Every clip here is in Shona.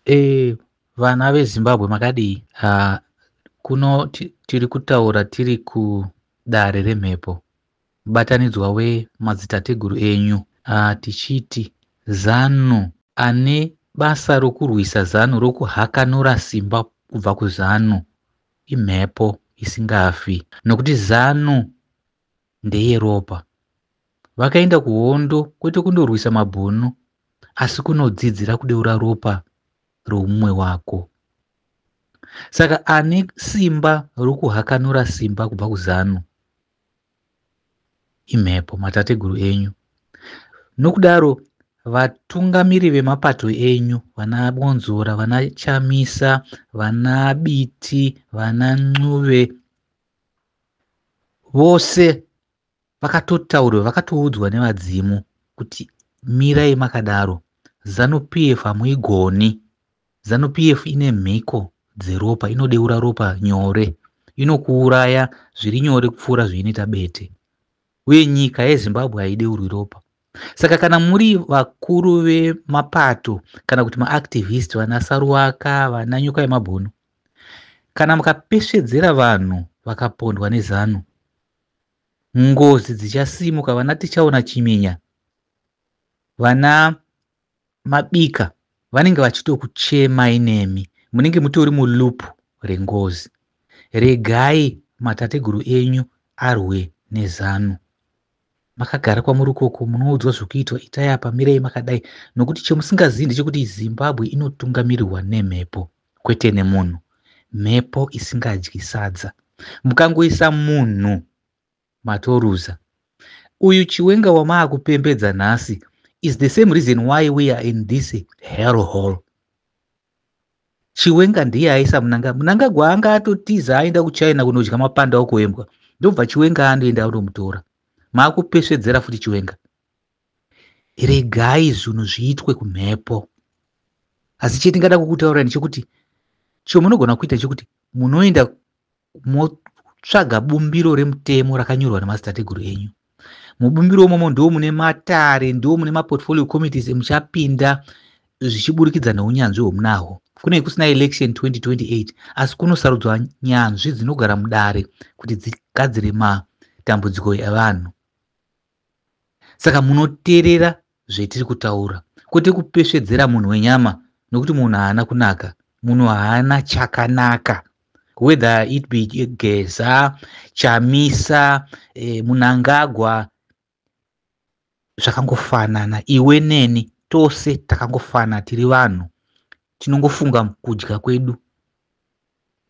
Eh, vana vezimbabwe makadii uh, kuno tiri kutaura tiri kudare remhepo mubatanidzwa wemadzitateguru enyu uh, tichiti zanu ane basa rokurwisa zanu rokuhakanura simba kubva kuzanu imhepo isingafi nokuti zanu ndeyeropa. Vakaenda kuhondo kwete kundorwisa mabhunu asi kunodzidzira kudeura ropa roumwe wako. Saka ane simba rokuhakanura simba kubva kuzanu imhepo matateguru enyu. Nokudaro vatungamiri vemapato enyu vana Bonzora, vana Chamisa, vana Biti, vana Ncuve vose vakatotaurwa vakatoudzwa nevadzimu kuti mirai makadaro zanu p f hamuigoni zanu p f ine mhiko dzeropa inodeura ropa nyore inokuuraya zviri nyore kupfuura zveinoita bete uye nyika yezimbabwe haideurwi ropa saka kana muri vakuru vemapato kana kuti maactivist vana saruwaka vana nyoka yemabhono kana mukapesvedzera vanhu vakapondwa nezanu ngozi dzichasimuka vana tichaona chimenya vana mabika vanenge vachitokuchemai nemi munenge mutori mulup rengozi regai matateguru enyu arwe nezanu makagara kwamuri ikoko munoudzwa zvekuitwa itai apa mirei makadai nokuti chemusingazivi ndechekuti zimbabwe inotungamirirwa nemhepo kwete nemunhu mhepo isingadyi sadza mukangoisa munhu Matoruza. Uyu chiwenga wamaakupembedza nhasi is the same reason why we are in this hell hall. Chiwenga ndiye aisa munanga munangagwa anga atotiza aenda kuchina kunodya mapanda okuembwa ndobva chiwenga anoenda anomutora maakupesvedzera futi chiwenga regai zvinhu zviitwe kumhepo asi chetingada kukutaurani chekuti chomunogona kuita chekuti munoenda motsvaga bumbiro remutemo rakanyorwa nemadzitateguru enyu mubumbiro umomo ndiwo mune matare ndiwo mune maportfolio committees emuchapinda zvichiburikidza neunyanzvi hwomunahwo kunei kusina election 2028 asi kunosarudzwa nyanzvi dzinogara mudare kuti dzigadzire matambudziko evanhu saka munoterera zvetiri kutaura kwete kupesvedzera munhu wenyama nokuti munhu haana kunaka munhu haana chakanaka whether it be geza chamisa eh, munangagwa zvakangofanana iwe neni tose takangofanana tiri vanhu tinongofunga kudya kwedu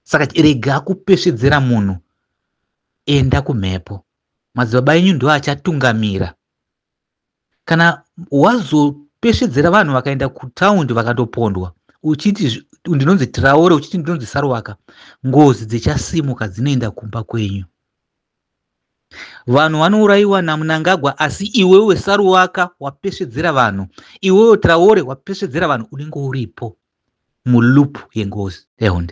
saka rega kupesvedzera munhu enda kumhepo madzibaba enyu ndiwo achatungamira kana wazopesvedzera vanhu vakaenda kutaundi vakatopondwa uchiti ndinonzi traore uchiti ndinonzi sarwaka ngozi dzichasimuka dzinoenda kumba kwenyu vanhu vanourayiwa namunangagwa asi iwewe saruwaka wapesvedzera vanhu iwewe traore wapesvedzera vanhu unenge uripo mulup yengozi ehonde